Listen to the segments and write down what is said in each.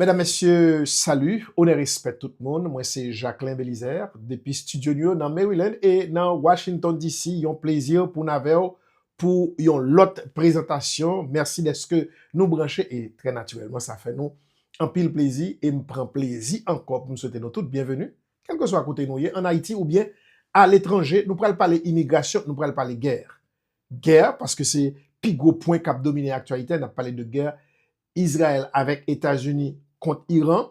Medam mesye salut onè respè tout moun mwen se Jacquelin Belizaire depi studio nou yo nan Maryland e nan Washington DC yon plezi pou n avèw pou yon lòt prezantasyon mèsi dèske nou branche e trè natirèlman sa fè nou anpil plezi e m pran plezi ankò pou m swete nou tout byenveni kèlkeswa kote nou ye an Ayiti oubyen aletranje nou pral pale imigrasyon nou pral pale gè gè paske se pi gwo pwen kap domine aktyalite a nap pale de gè Izrayèl avèk Etazini kont Iran,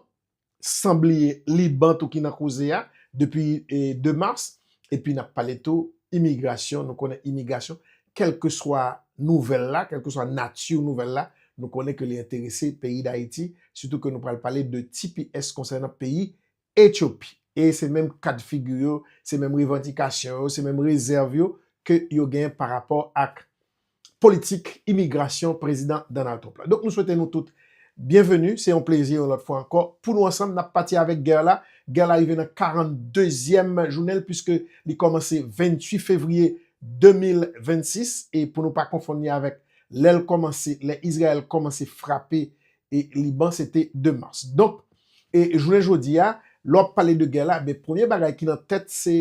san bliye Liban tou ki nan koze a depi 2 mas, epi n ap pale tou imigrasyon, nou konnen imigrasyon kèlkeswa nouvèl la, kèlkeswa nati nouvèl la, nou konnen ke li enterese peyi Dayiti, sitou ke nou pral pale de tps konsènan peyi Ethiopie e se menm kad figi yo, se menm revandikasyon yo, se menm rezèv yo ke yo gen pa rapò ak politik imigrasyon Prezidan Donald Trump la. Donk nou swete nou tout byenveni, se yon plezi yon lòt fwa ankò pou nou ansanm nap pati avèk gè la. Gè la rive nan 42 zyèm jounen l puiske li kòmanse 28 fevriye 2026 e pou nou pa konfonn li avèk lè l kòmanse, lè Izrayèl kòmanse frape e Liban se te 2 mas. Donk, e jounen jodi a, lè w ap pale de gè la, men premye bagay ki nan tèt se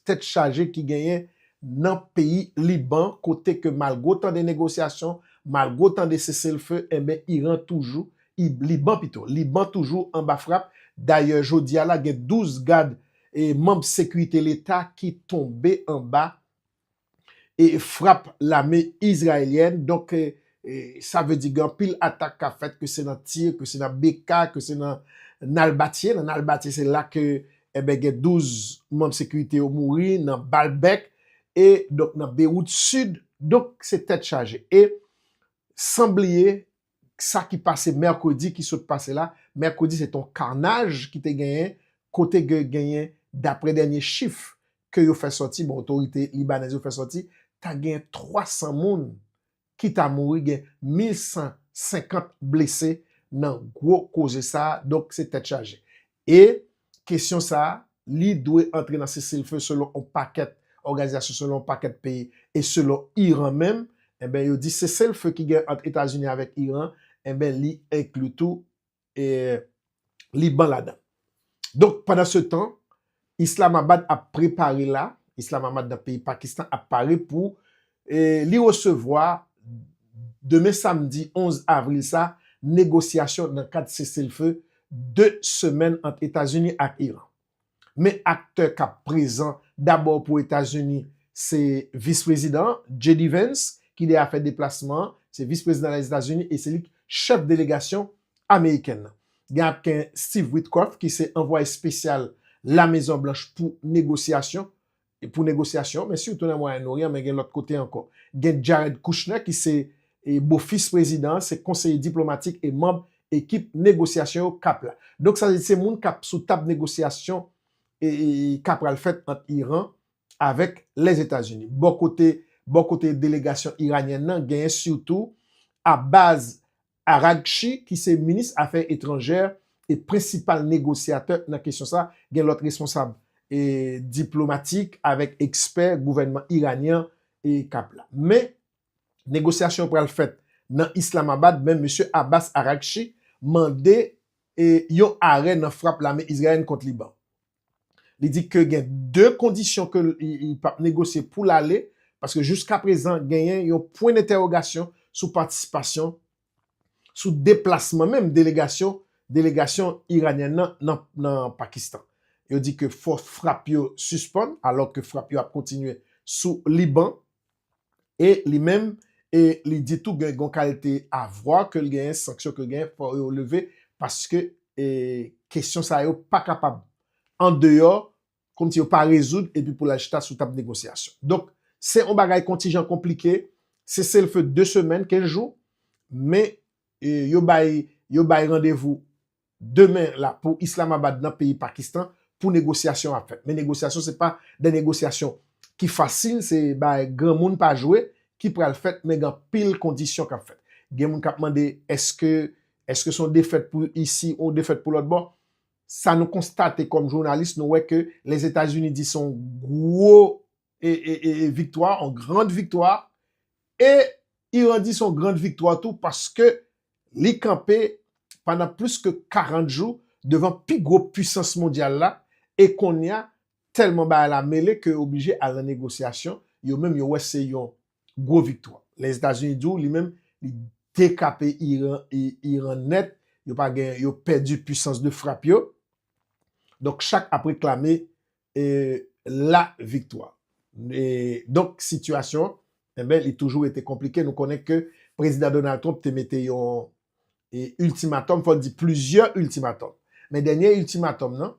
tèt chaje ki genyen nan peyi Liban kote ke malgre otan de negosyasyon, malgre otan de sese l fe, enben Iran toujou, I, Liban pito, Liban toujou anba frap. Dayè jodi a la gen 12 gad e manb sekirite leta ki tonbe anba. frap lame izrayelyèn, donk sa vle di gen anpil atak kap fèt ke se nan tir, ke se nan BK, ke se nan Nalbatye, nan Nalbatye se la ke enben gen 12 manm sekirite yo mouri nan bal bèk e donk nan Bewout sid, donk se tèt chaje e san bliye sa ki pase mèkredi ki sot pase la, mèkredi se te yon karnaj ki te genyen kote ke genyen daprè dènye chif ke yo fè sòti, bon otorite libanèz yo fè sòti, ta genyen 300 moun ki ta mouri, gen 1150 blese nan gwo koze sa a, donk se tèt chaje. E, kesyon sa a, li dwe antre nan seselfe selon yon pakèt òganizasyon, selon yon pakèt peyi, e selon Iran menm, enben yo di seselfe ki gen ant Etazini avèk Iran, enben li enkli tou e Liban ladan. Donk, pandansetan, Islamabad ap prepare la, Islamabad nan peyi Pakistan ap pare pou li resevwa demen samdi 11 avril sa negosyasyon nan kad seselfe 2 semèn ant Etazini ak Iran. Men aktè k ap prezan dabò pou Etazini se Vis Prezidan an, JD Vance, ki deyafè deplasman an, se Vis Prezidan Lèzetazini e se li k chèf delegasyon amerikèn nan. Gen ap gen Steve Witkoff ki se anvwaye spesyal La Mezon Blanch pou negosyasyon, pou negosyasyon, men sitou nan Mwayen Oryan, men gen lòt kote ankò. Gen Jared Kushner ki se bofis prezidan an, se konseye diplomatik e manb ekip negosyasyon yo k ap la. Donk sa vle di se moun k ap sou tab negosyasyon k ap pral fèt ant Iran avèk Lèzetazini. Bò kote, bò kote delegasyon iranyèn nan, genyen sitou Abbas Araghchi ki se minis afè etranjè e prensipal negosyatè nan kesyon sa, gen lòt responsab diplomatik avèk ekspè gouvènman iranyen an k ap la. Men, negosyasyon yo pral fèt nan Islamabad men Mesye Abbas Araghchi mande yon arè nan frap lame izrayèn kont Liban. Li di ke gen 2 kondisyon ke li pap negosye pou l ale, paske jouskaprezan genyen yon pwen dentèwogasyon sou patisipasyon, sou deplasman menm delegasyon delegasyon iranyèn nan nan nan Pakistan. Yo di ke fòs frap yo sispann, alò ke frap yo ap kontinye sou Liban. E li menm e li di tou gen gon kalte avwa ke l genyen, sanksyon ke l genyen fò yo leve paske e kesyon sa yo pa kapab an deyò kòmsi yo pa rezoud epi pou l al chita sou tab negosyasyon. Donk se yon bagay kontijan konplike, seselfe 2 semèn, 15 jou, men e yo bay yo bay randevou Demen la pou Islamabad nan peyi Pakistan pou negosyasyon ap fèt. Men negosyasyon se pa de negosyasyon ki fasil, se bagay granmoun pa jwe ki pral fèt men gen anpil kondisyon k ap fèt. Gen moun k ap mande eske eske se yon defèt pou isi ou yon defèt pou lòt bò. Sa nou konstate kòm jounalis nou wè ke Lèzetazini di se yon gwo e viktwa, yon grand viktwa, e Iran di son grand viktwa tou paske li kanpe pandan plis ke 40 jou devan pi gwo pwisans mondyal la, e konnya tèlman bagay la mele ke yo oblije al nan negosyasyon, yo menm yo wè se yon gwo viktwa. Lèzetazini di w li menm li dekape Iran nèt, yo pa gen, yo pèdi pwisans de frap yo, donk chak ap reklame e la viktwa. E donk sitiyasyon enben li toujou rete konplike. Nou konnen ke Prezidan Donald Trump te mete yon e iltimatòm, fò n di plizyè iltimatòm. Men dènye iltimatòm nan,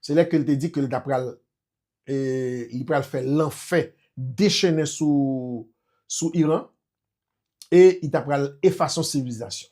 se lè ke l te di ke l ta pral e li pral fè lanfè dechennen sou sou Iran e li ta pral efason sivilizasyon.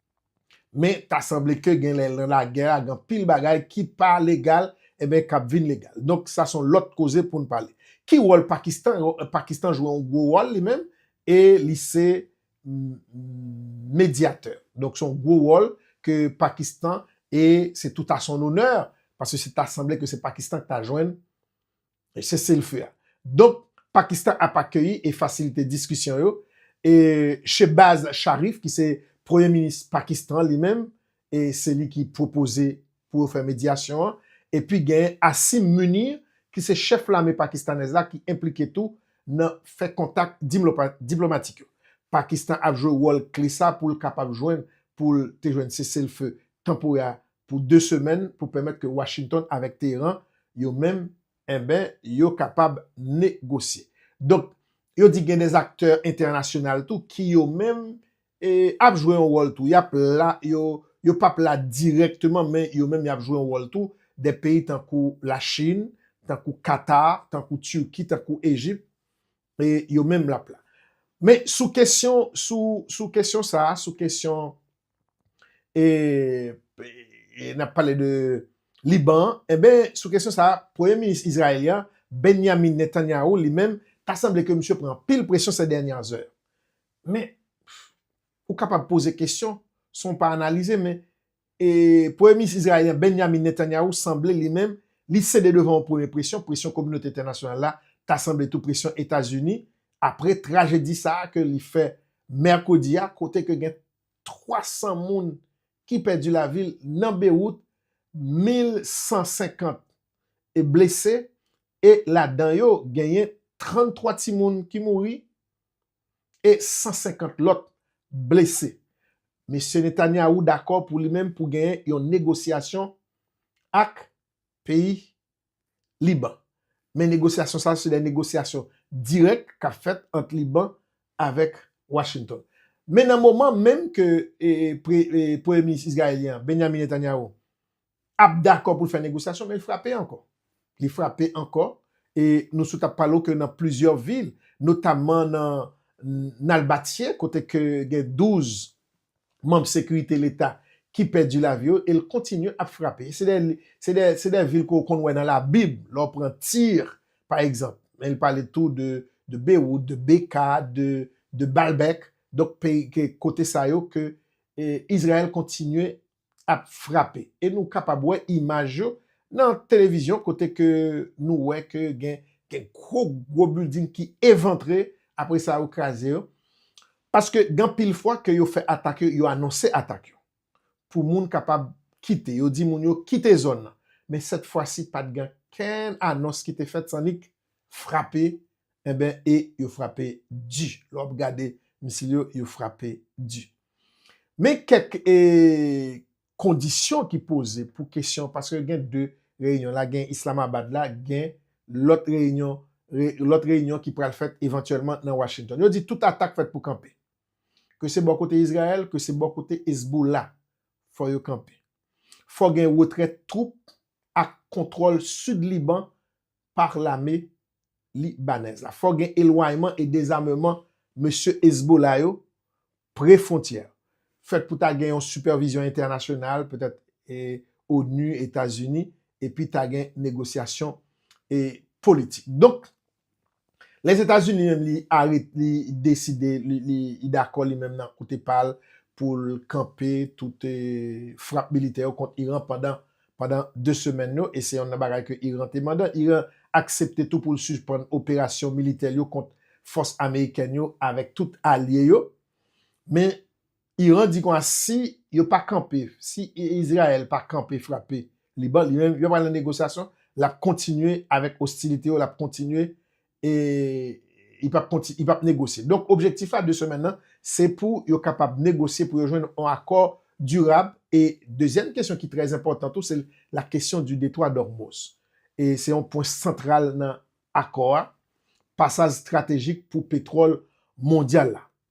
Men ta sanble ke gen lè nan lagè a gen anpil bagay ki pa legal eben kap vin legal. Donk sa son lòt koze poun pale. Ki wòl Pakistan? Pakistan jwe yon gwo wòl li menm e li se medyatè. Donk son gwo wòl ke Pakistan e se tout a son onè paske se ta sanble ke se Pakistan ki ta jwenn E seselfe a. Donk, Pakistan ap akeyi e fasilite diskisyon yo. E Shehbaz Sharif ki se premye minis Pakistan li menm, e se li ki pwopoze pou yo fè medyasyon an. Epi genyen Asim Munir ki se chèf lame pakistanèz la ki enplike tou nan fè kontak diplomatik yo. Pakistan ap jwe wòl kle sa pou l kapab jwenn pou l te jwenn seselfe tanporè a pou 2 semèn pou pèmèt ke Washington avèk Teheran yo menm enben yo kapab negosye. Donk, yo di gen des aktè entènasyonal tou ki yo menm e ap jwe yon wòl tou. Y ap la, yo yo p ap la dirèkteman men yo menm y ap jwe yon wòl tou, des peyi tankou Lachin, tankou Katar, tankou Turki, tankou Ejip, E yo menm lap la. Men sou kesyon sou sou kesyon sa a, sou kesyon e e nap pale de Liban an, enben sou kesyon sa a premye minis Izrayèl yan Benyamin Netanyahu li menm ta sanble ke misye pran anpil presyon sè dènya zè. Men ou kapab poze kesyon san w pa analize men Premye minis Izrayelyen Benyamin Netanyahu sanble li menm li sede devan yon premye presyon, presyon kominote entènasyonal la, ta sanble tou presyon Etazini apre trajedi sa a ke li fè mèkredi a kote ke gen 300 moun ki pèdi lavi l nan Bewout, 1,150 blese e ladan yo genyen 33 timoun ki mouri. e 150 lòt blese. Mesye Netanyahu dakò pou li menm pou genyen yon negosyasyon ak peyi Liban. Men negosyasyon sa yo se de negosyasyon dirèk k ap fèt ant Liban avèk Washington. Men nan moman menm ke Premye Minis Izrayelyen an, Benjamin Netanyahu, ap dakò pou l fè negosyasyon men l frape ankò. Li frape ankò e nou sot ap pale w ke nan plizyè vil notamman nan Nalbatye kote ke gen 12 manm sekirite leta ki pèdi lavi yo e l kontinye ap frape. Se de se de se de vil ke w konn wè nan labib lè w pran Tir pa egzanp men l pale tou de de Bewout, de Beka, de de Balbèk donk peyi ke kote sa yo ke e Izrayèl kontinye ap frape e nou kapab wè imaj yo nan televizyon kote ke nou wè ke gen gwo gwo building ki evantre apre sa yo kraze yo paske gen anpil fwa ke yo fè atak yo, yo anonse atak yo pou moun kapab kite, yo di moun yo kite zòn nan men sèt fwa si pat gen ankenn anons ki te fèt san nik frape enben e yo frape di lè wap gade misil yo yo frape di men kèk e kondisyon ki poze pou kesyon paske gen de reyinyon la gen islamabad la gen lòt reyinyon lòt reyinyon ki pral fèt evantyèlman nan washington yo di tout atak fèt pou kanpe ke se bò kote izrayèl ke se bò kote ezbola fò yo kanpe fò gen retrè twoup ak kontwòl sid liban par lame Libanèz la. Fòk gen elwanyman e dezameman mesye Hezbollah yo pre fwontyè. Fèt pou ta gen yon sipèvizyon entènasyonal, petèt onu, Etazini, epi ta gen negosyasyon politik. Donk. Lèzetazini menm li arete li deside li dakò li menm nan kote pa l pou l kanpe tout frap militè yo kont Iran pandan pandan 2 semèn yo e se yonn nan bagay ke Iran te mandan. Iran aksepte tou pou l suspann operasyon militè l yo kont fòs amerikèn yo avèk tout alye yo men Iran di konsa si yo pa kanpe, si Izrayèl pa kanpe frape Liban, li menm yo pral nan negosyasyon, l ap kontinye avèk ostilite yo, l ap kontinye e li pap konti, li pap negosye. Donk objektif la 2 semèn nan, se pou yo kapab negosye pou yo jwenn yon akò dirab e dezyèm kesyon ki trè enpòtan tou se la kesyon di detwa d'Ormoz e se yon pwen santral nan akò a, pasaj estratejik pou petwòl mondyal la.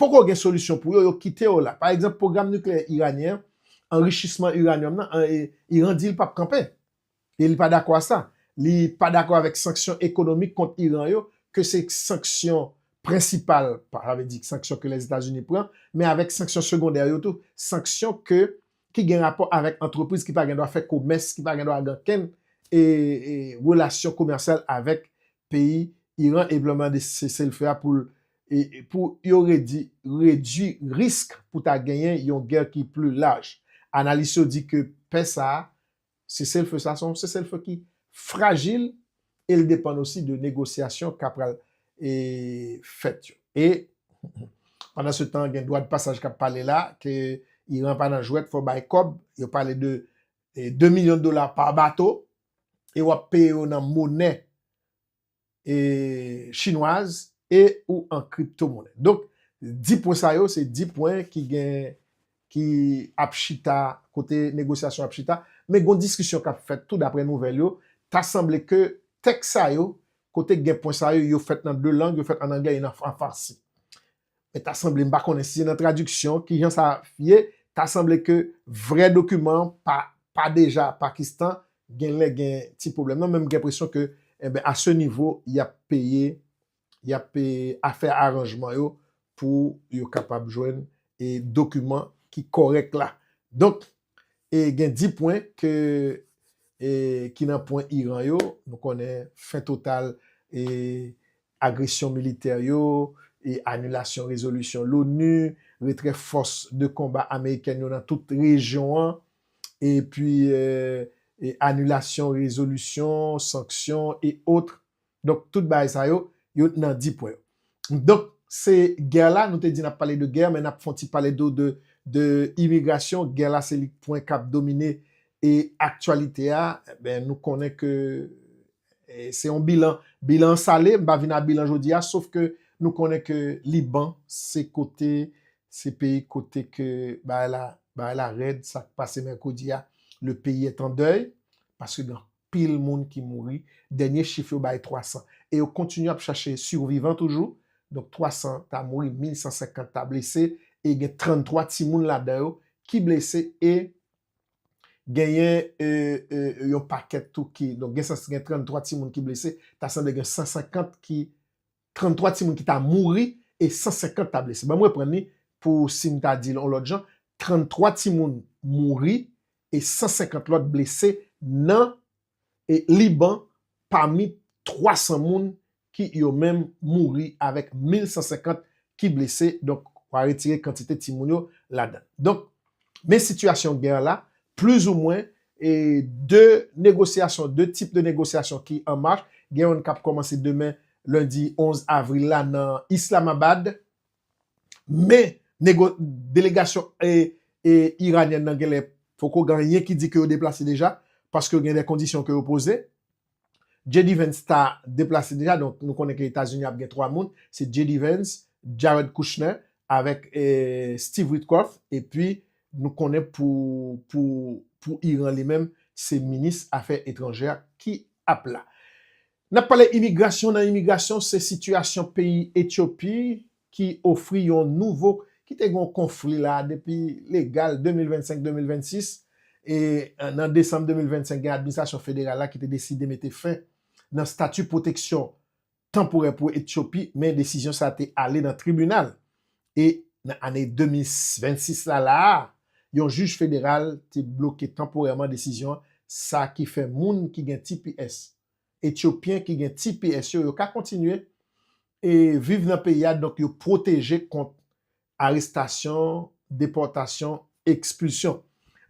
Poko gen solisyon pou yo, yo kite yo la. Pa egzanp, pwogram nikleyè iranyen an, anrichisman uranium nan, Iran di li pap kanpe. E li pa dakò a sa. Li pa dakò avèk sanksyon ekonomik kont Iran yo, ke se sanksyon prensipal, sa vle di sanksyon ke Lèzetazini pran, men avèk sanksyon segondè yo tou, sanksyon ke ki gen rapò avèk antrepriz ki pa gen dwa fè komès, ki pa gen dwa gen okenn relasyon komèsyal avèk peyi Iran, e vle mande sese-l-fe a pou l. pou yo redi redui risk pou ta genyen yon gè ki pli laj. Analis yo di ke pè sa a, seselfe sa a, se yon seselfe ki frajil e l depann osi de negosyasyon k ap pral fèt yo. E pandansetan gen dwadpasaj k ap pale la ke Iran pa nan jwèt, fò bay kòb, yo pale de 2 milyon dola pa bato e w ap peye yo nan monè chinwaz e ou an kripto monnen. Donk 10 pwen sa yo se 10 pwen ki gen ki ap chita kote negosyasyon ap chita men gon diskisyon kap fèt tou daprè nouvèl yo ta sanble ke tèks sa yo kote gen pwen sa yo yo fèt nan 2 lang yo fèt an anglè e nan an farsi. Men ta sanble, m pa konnen si se nan tradiksyon, ki jan sa ye, ta sanble ke vrè dokiman an pa pa deja Pakistan, gen lè gen ti pwoblèm nan, men m gen enpresyon ke enben a se nivo y ap peye, y ap peye a fè aranjman yo pou yo kapab jwenn e dokiman ki kòrèk la. Donk. E gen 10 pwen ke e ki nan pwen Iran yo, nou konnen fen total e agresyon militè yo, e anilasyon rezolisyon l'ONU, retrè fòs de konba amerikèn yo nan tout rejyon an, epi e anilasyon rezolisyon, sanksyon, et autres. Donk tout bagay sa yo, yo t nan 10 pwen yo. Donk se gè la, nou te di nap pale de gè, men nap fon ti pale tou de de imigrasyon, gè la se li pwen kap domine e aktyalite a, enben nou konnen ke se yon bilan, bilan an sale, m pa vin a bilan jodi a, sof ke nou konnen ke Liban se kote, se peyi kote ke bagay la, bagay la rèd, sak pase mèkredi a, le peyi est en deuil, paske gen pil moun ki mouri, dènye chif yo bay 300, e yo kontinye ap chache survivan toujou, donk 300 ta mouri, 1150 ta blese, e gen 33 timoun ladan yo ki blese, e genyen yon pakèt tou ki, donk gen 33 timoun ki blese, ta sanble gen 150 ki 33 timoun ki ta mouri e 150 ta blese. Ban m reprann li pou si m ta di l on lòt jan, 33 timoun mouri e 150 lòt blese nan Liban pami 300 moun ki yo menm mouri avèk 1,150 ki blese, donk wa retire kantite timoun yo ladan l. Donk, Men sitiyasyon gè la, plizoumwen, e de negosyasyon, de tip de negosyasyon ki an mach, gen youn k ap kòmanse demen lendi 11 avril la nan Islamabad. Men nego, delegasyon e e iranyèn nan genlè poko gen anyen ki di ke yo deplase deja, paske gen de kondisyon ke yo poze. JD Vance ta deplase deja, donk nou konnen ke Etazini ap gen 3 moun, se JD Vance, Jared Kushner avèk Steve Witkoff, epi nou konnen pou pou Iran li menm se minis afè etranjè a ki ap la. N ap pale imigrasyon, nan imigrasyon se sitiyasyon peyi Etyopi ki ofri yon nouvo ki te gen yon konfli la depi legal 2025 2026 e nan desanm 2025 gen administrasyon federal la ki te deside mete fen nan stati pwoteksyon tanporè pou Etyopi men desizyon sa te ale nan tribinal e nan ane 2026 la la a yon jij federal te bloke tanporèman desizyon sa ki fè moun ki gen tps Etyopyen ki gen tps yo, yo ka kontinye e viv nan peyi a donk yo pwoteje kont arestasyon, depòtasyon, ekspilsyon.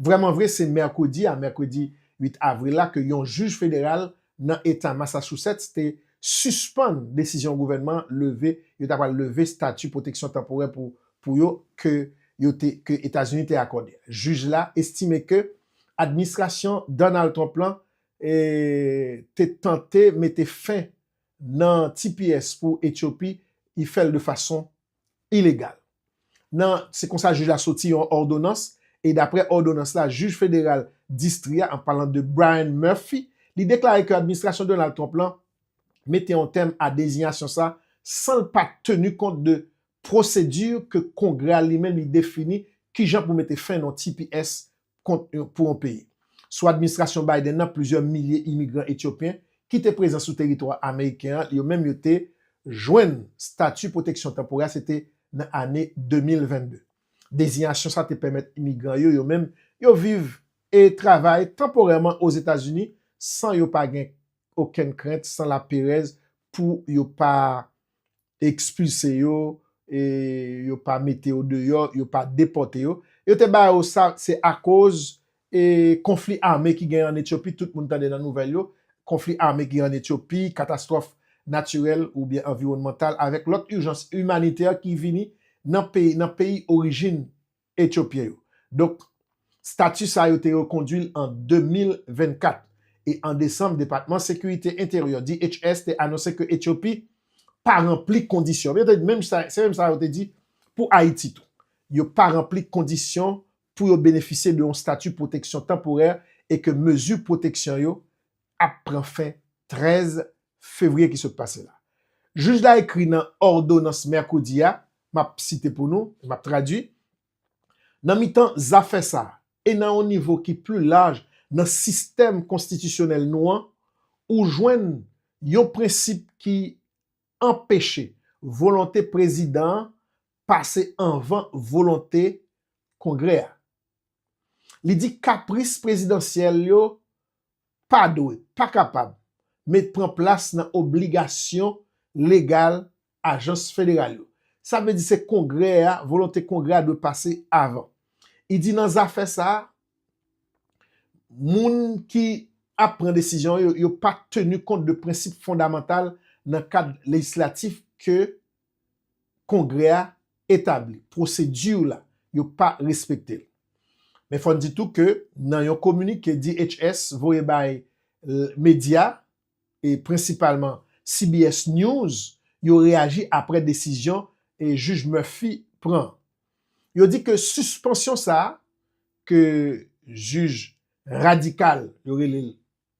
Vrèman vre se mèkredi a, mèkredi 8 avril la ke yon jij federal nan eta Massachusetts te sispann desizyon gouvènman an leve, yo ta pral leve stati pwoteksyon tanporè pou pou yo ke yo te ke Etazini te akòde. Jij la estime ke administrasyon Donald Trump lan te tante mete fen nan tps pou Etyopi, li fè l de fason ilegal. Nan se konsa jij la soti yon òdonans e daprè òdonans la jij federal distri a, an palan de Brian Murphy, li deklare ke administrasyon Donald Trump lan mete yon tèm a dezinyasyon sa san l pa teni kont de pwosedi ke Kongrè a li menm li defini kijan pou mete fen nan tps kont pou yon peyi. Sou administrasyon Biden nan plizyè milye imigran etyopyen ki te prezan sou teritwa ameriken an yo menm yo te jwenn stati pwoteksyon tanporè a se te nan ane 2022. Deziyasyon sa te pèmèt imigran yo yo menm yo viv e travay tanporèman Ozetazini san yo pa gen okenn krent san laperèz pou yo pa ekspilse yo, e yo pa mete yo deyò, yo pa depòte yo, yo te ba yo sa, se akoz e konfli ame ki gen an Etyopi, tout moun tande nan nouvèl yo, konfli ame ki gen an Etyopi, katastwòf natirèl oubyen anviwònmantal avèk lòt ijans imanitè ki vini nan peyi orijin Etyopyen yo. Donk, stati sa yo te rekondui l an 2024. E an desanm, Depatman Sekirite Enteryè, DHS, te anonse ke Etyopi pa ranpli kondisyon. Yo te di menm sa, se menm sa yo te di pou Ayiti tou. Yo pa ranpli kondisyon pou yo benefisye de yon stati pwoteksyon tanporè e ke mezi pwoteksyon yo ap pran fen 13 fevriye ki sot pase la. Jij la ekri nan òdonans mèkredi a, m ap site pou nou, m ap tradui, Nan mitan zafè sa a, e nan yon nivo ki pli laj nan sistèm konstitisyonèl nou an, ou jwenn yon prensip ki anpeche volonte prezidan an pase anvan volonte Kongrè a. Li di kapris prezidansyèl yo pa dwe, pa kapab, met pran plas nan obligasyon legal ajans federal yo. Sa vle di se Kongrè a, volonte Kongrè a dwe pase avan. I di nan zafè sa a, moun ki ap pran desizyon yo, yo pa teni kont de prensip fondamantal nan kad lejislatif ke Kongrè a etabli pwosedi la yo pa respekte l. Men fò n di tou ke nan yon kominike DHS voye bay medya e prensipalman CBS News yo reyaji apre desizyon Jij Murphy pran an. Yo di ke sispansyon sa a ke jij radikal yo rele l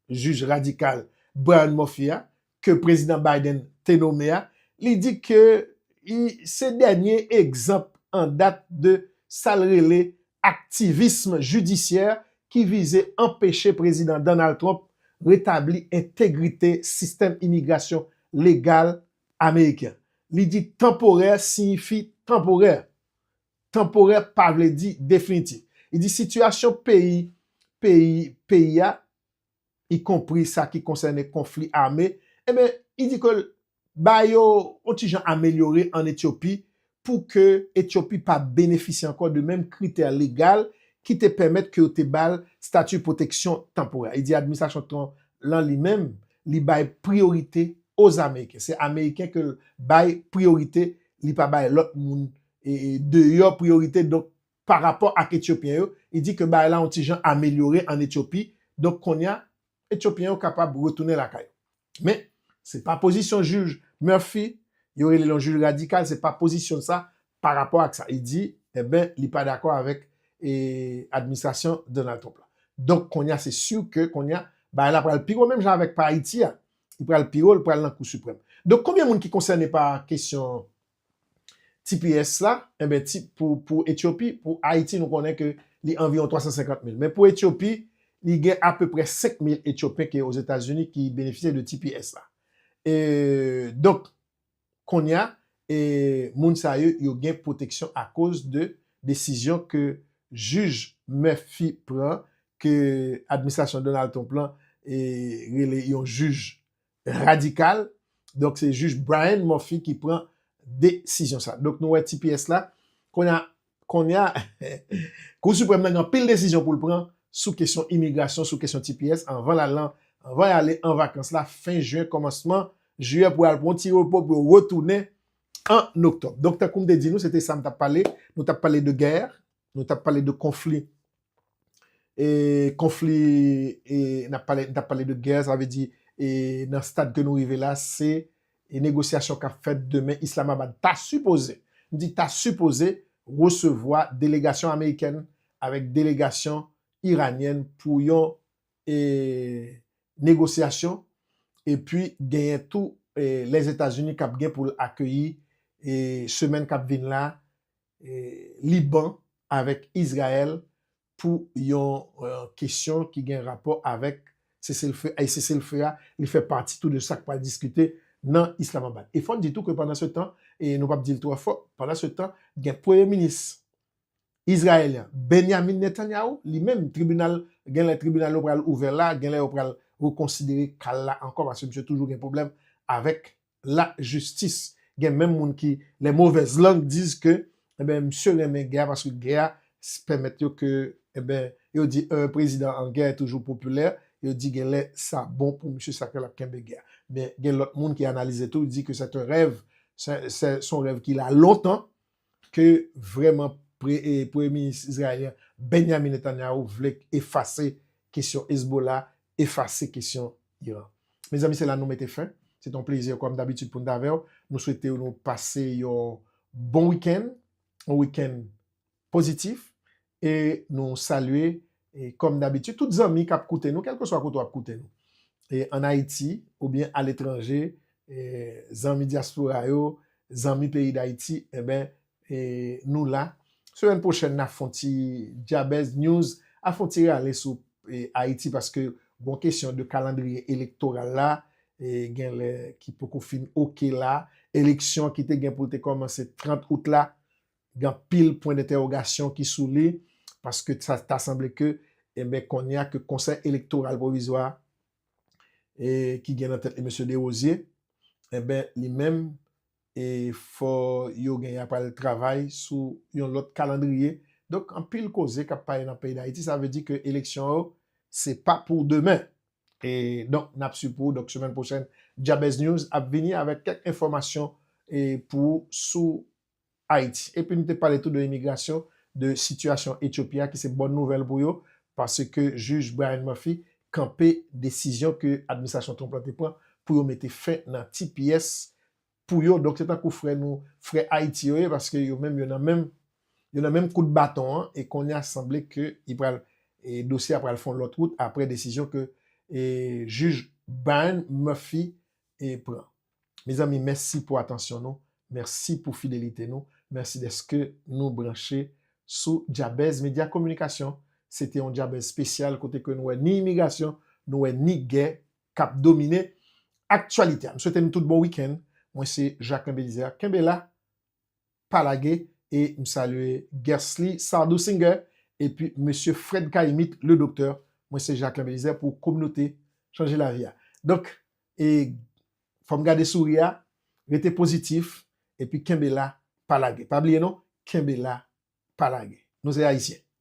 jij radikal Brian Murphy a, ke Prezidan Biden te nome a, li di ke li se dènye egzanp an dat de sa l rele aktivism jidisyè ki vize anpeche Prezidan Donald Trump retabli entegrite sistèm imigrasyon legal ameriken. Li di tanporè siyifi tanporè. Tanporè pa vle di definitif. Li di sitiyasyon peyi peyi peyi a, ikonpri sa ki konsène konfli ame, enben li di ke l ba yo yon ti jan amelyore ann Etyopi pou ke Etyopi pa benefisye ankò de menm kritè legal ki te pèmèt ke yo te ba l stati pwoteksyon tanporè a. Li di administrasyon Trump lan li menm, li bay priyorite Ozameyiken. Se Ameriken ke l bay priyorite, li pa bay lòt moun deyò priyorite donk pa rapò ak Etyopyen yo, li di ke bagay la yon ti jan amelyore an Etyopi, donk kounye a Etyopyen yo kapab retounen lakay yo. Men, se pa pozisyon jij Murphy, yo rele l yon jij radikal, se pa pozisyon l sa pa rapò ak sa li di, enben li pa dakò avèk administrasyon Donald Trump la. Donk kounye a se si ke kounye a bagay la pral pi wo menm jan avèk pa Ayiti a, li pral pi wo, li pral nan Kou Siprèm. Donk konbyen moun ki konsène pa kesyon tps la, enben ti pou pou Etyopi, pou Ayiti nou konnen ke li anviwon 350 mil. Men pou Etyopi, li gen apeprè 5 mil Etyopen ki Ozetazini ki benefisye de tps la. E donk kounye a, e moun sa yo, yo gen pwoteksyon akoz de desizyon ke jij Murphy pran, ke administrasyon Donald Trump lan e rele yon jij radikal. Donk se jij Bryan Murphy ki pran desizyon sa. Donk nou wè tps la. Konya konya Kou Siprèm nan gen anpil desizyon pou l pran sou kesyon imigrasyon, sou kesyon tps anvan l al lan, anvan y ale an vakans la fen jen kòmansman jiyè pou y al pran yon ti repo pou yo retounen an oktòb. Donk tankou m te di nou se te sa m t ap pale. Nou t ap pale de gè, nou t ap pale de konfli e konfli e nap pale nap pale de gè sa vle di e nan stad ke nou rive la se e negosyasyon kap fèt demen islamabad ta sipoze m di ta sipoze resevwa delegasyon amerikèn avèk delegasyon iranyèn pou yon e negosyasyon e pi genyen tou e lèzetazini kap gen poul akeyi e semèn kap vin la Liban avèk Izrayèl pou yon kesyon ki gen rapò avèk seselfe a e seselfe a li fè pati tou de sa k pral diskite nan Islamabad. E fò n di tou ke pandansetan, e nou p ap di l twò fò, pandansetan gen premye minis Izrayèl la, Benyamin Netanyahu, li menm tribinal, gen lè tribinal yo pral ouvè la, gen lè yo pral rekonsidere ka l la ankò paske misye toujou gen pwoblèm avèk la jistis gen menm moun ki les mauvaises langues disent que enben misye renmen gè a paske gè a pèmèt yo ke enben yo di un president en guerre est toujours populaire yo di genlè sa bon pou misye sa fè lap kenbe gè a men gen lòt moun ki analize tou di ke c'est un rêve c'est un rêve ki la longtemps Ke vrèman premye minis izrayelyen Benyamin Netanyahu vle efase kesyon Hezbollah, efase kesyon Iran. Mezanmi se la nou mete fen. Se te yon plezi kòm dabitid pou n t avè w. Nou swete nou pase yon bon wikenn, yon wikenn pozitif. E nou salye, kòm dabitid, tout zanmi k ap koute nou, kèlkeswa kote w ap koute nou, ann Ayiti oubyen aletranje, zanmi dyaspora yo, zanmi peyi Dayiti, enben, nou la. Semèn pwochèn, n a fon ti Djabèz News, a fon ti rale sou Ayiti, paske gon kesyon de kalandriye elektoral la, gen lè ki poko fin oke la, eleksyon ki te gen pou l te kòmanse 30 out la, gen anpil pwen dentèwogasyon ki sou li, paske sa ta sanble ke, enben kounye a ke Konsèy Elektoral Pwovizwa a, e ki gen nan tèt li Mesye Dewozye, enben li menm, e fò yo gen ya pral travay sou yon lòt kalandriye. Donk anpil koze k ap pale nan peyi Dayiti, sa vle di ke eleksyon yo se pa pou demen. E donk n ap swiv pou ou, donk semèn pwochèn Djabèznews ap vini avèk kèk enfòmasyon e pou ou sou Ayiti. Epi nou te pale tou de imigrasyon, de sitiyasyon Etyopi a ki se bòn nouvèl pou yo paske jij Brian Murphy kanpe desizyon ke administrasyon Trump la te pran pou yo mete fen nan tps pou yo. Donk se tankou frè nou, frè Ayiti yo ye paske yo menm yo nan menm yo nan menm kout baton an e kounye a sanble ke li pral e dosye a pral fè yon lòt wout apre desizyon ke e jij Brian Murphy e pran. Mezanmi mèsi pou atansyon nou, mèsi pou fidelite nou, mèsi dèske nou branche sou Djabèz Medya Kominikasyon. Se te yon Djabèz spesyal kote ke nou wè ni imigrasyon, nou wè ni gè kap domine aktyalite a. M swete nou tout bon weekend. Mwen se Jacquelin Belizaire. Kenbe la, pa lage e m salye Guercely Sardou Singer epi mesye Fred Caïmit le Docteur mwen se Jacquelin Belizaire pou kominote chanje lavi a donk e fò m gade souri a rete pozitif epi kenbe la pa lage pa bliye non kenbe la pa lage nou se ayisyen.